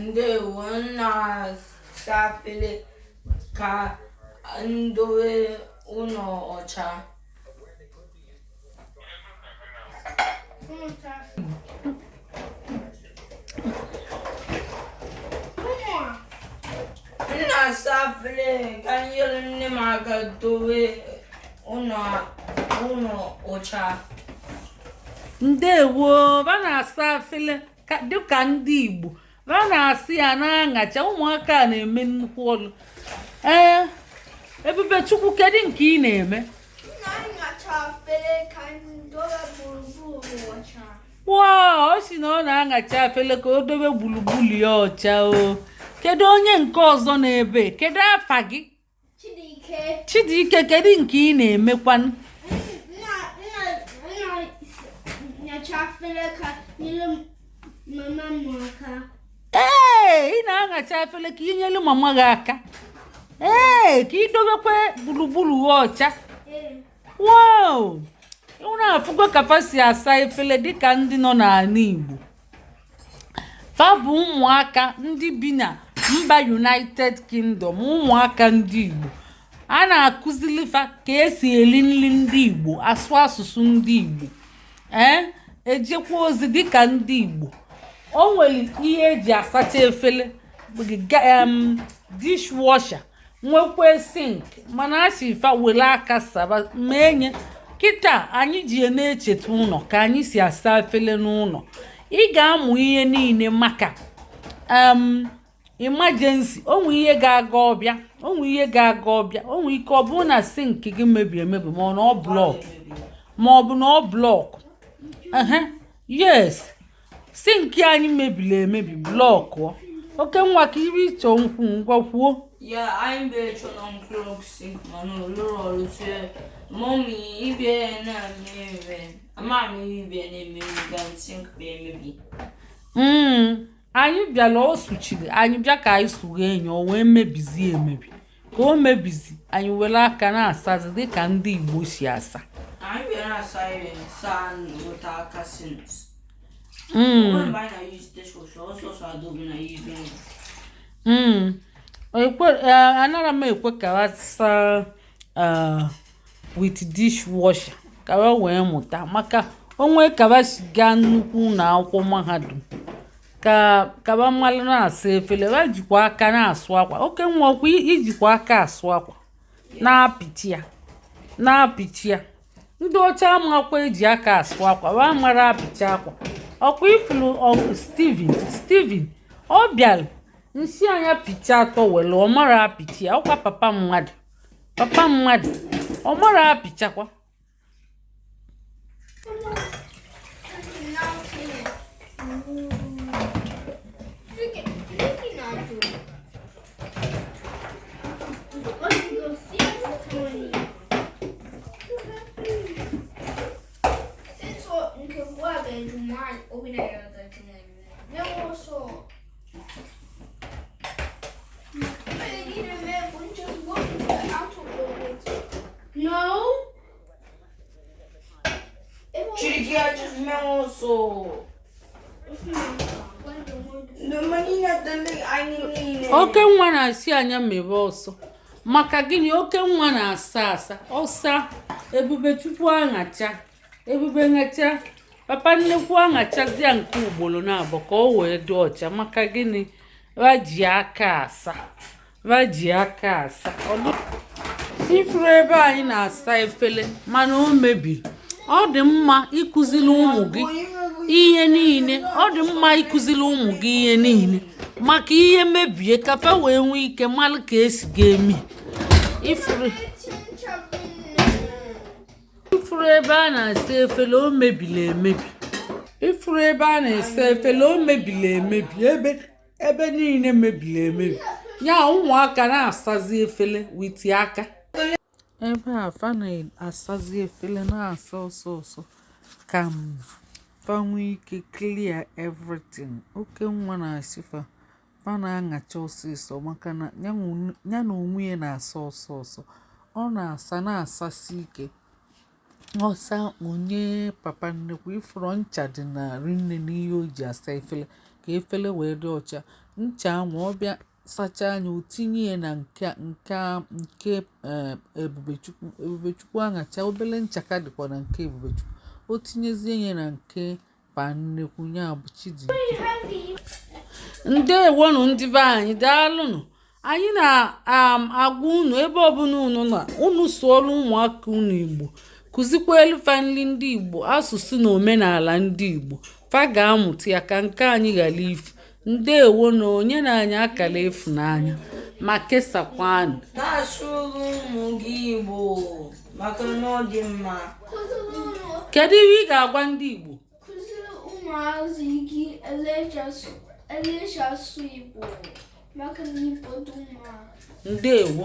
ndewo m na-asa afele ka m dowe ụnọ ọcha m na-asa afele ka m nyere nne m aka dowe ụlọ ụlọ ọcha ndewo ba na-asa afele ka- dịka ndị igbo ba na-asị ya na-aṅacha ụmụaka a na-eme nnukwu ọlụ ee ebube chukwu kedu nke ị na-eme na-aṅacha efere ka anyị dobe gburugburu ọcha wow ọ sị na ọ na-aṅacha afele ka o dobe gburugburu ya ọcha o kedu onye nke ọzọ n'ebe kedu afa gị Chidike kedu nke ị na-emekwanụ ee ị na-aṅacha efere ka ị nyelu mama gị aka ee ka ị dobekwa gburugburu gị ọcha wow unu afụgo ka fa si asa efere dịka ndị nọ n'ala Igbo fa bụ ụmụaka ndị bi na mba united kingdom ụmụaka ndị igbo a na-akụzili fa ka esi eli nri ndị igbo asụ asụsụ ndị igbo ee eh, ejekwa ozi dịka ndị igbo o nwere ihe eji asacha efere dishwasher nwekwee sink mana a sị fa were aka saba mee nye kịta anyị ji ya na-echeta ụnọ ka anyị si asa efele n'ụnọ ị ga-amụ ihe niile maka emergency o nwee ihe ga-aga ọ bịa o nwee ihe ga-aga ọ bịa o nwee ike ọ bụrụ na sink gị mebiri emebi ma ọ na ọ block ma ọ bụ na ọ block yes sink anyị mebiri emebi blockụọ okay nwa ka ihe ị chọ ikwu ngwa kwuo ya anyị bụ ịchọ unblock sink mana ọ lụrọ ọrụ sie mummy ibie na-eme ama m ihe ibie na-eme ga sink bụ emebi mm. anyị bịara o suchiri anyị bịa ka anyị sughee ya o wee mebizie emebi ka o mebizi anyị were aka na-asazi dịka ndị Igbo si asa anara m ekwe ka asa with dishwasher ka fa wee mụta maka o nwee ka fa si gaa nnukwu ụlọ akwụkwọ mahadum ka ka fa malụ na-asa efele fa jikwa aka na-asụ akwa Okenwa ọkwa i jikwa aka asụ akwa na-apịchi ya na-apịchi ya ndị ọcha amakwa eji aka asụ akwa fa mara apịchi akwa ọkwa ifuru Steven Steven ọ bịara m sị nya pịcha towel ọ mara apịchi ya ọkwa papa mmadụ papa mmadụ ọ mara apịcha akwa Okenwa na-asị nya mebe ọsọ maka gịnị Okenwa na-asa asa ọ saa Ebubechukwu aṅacha Ebube ṅacha papa nnekwu aṅachazịa nke ugboro naabọ ka o wee dị ọcha maka gịnị fa ji aka asa fa ji aka asa ifuru ebe anyị na-asa efele mana o mebiri ọ dị mma ịkụziri ụmụ gị ihe niile ọ dị mma ịkụziri ụmụ gị ihe niile maka ihe mebie ka fa wee nwee ike mara ka esi ga-eme ifuru ifuru ebe a na-asa efele o mebiri emebi ebe niile mebiri emebi ya ụmụaka na-asazi efele with aka ebe a fa na-asazi efele na-asa ọsọ ọsọ ka fa nwee ike clear everything Okenwa na-asị fa fa na-aṅacha ọsịsọ maka na ya na onwe ya na-asa ọsọ ọsọ ọ na-asa na-asasi ike ọ saa o nye papa nnekwu ifuru ncha dị na rinne n'ihe o ji asa efele ka efele wee dị ọcha ncha ahụ ọ bịa sachaa nya o tinye ya na nke nke nke eh, Ebubechukwu Ebubechukwu aṅacha obele ncha ka dịkwa na nke Ebubechukwu o tinyezie ya na nke pa nnekwu ya bụ Chijioke ndewonụ ndị be anyị daalụnụ anyị na-agwa um, unu ebe ọbụla unu nọ na unu sụọlụ ụmụaka unu igbo kụzikwaalụ fa nri ndị igbo asụsụ na omenala ndị igbo fa ga-amụta ya ka nke anyị ghara ifu ndewonụ nyenụ anyị akara ịfụnanya ma kesakwanụ na-asụrụ ụmụ gị igbo maka na ọ dị mma kedu ihe ị ga-agwa ndị igbo kụziri ụmụazị gị elecha asụ igbo maka na igbo dị mma ndewo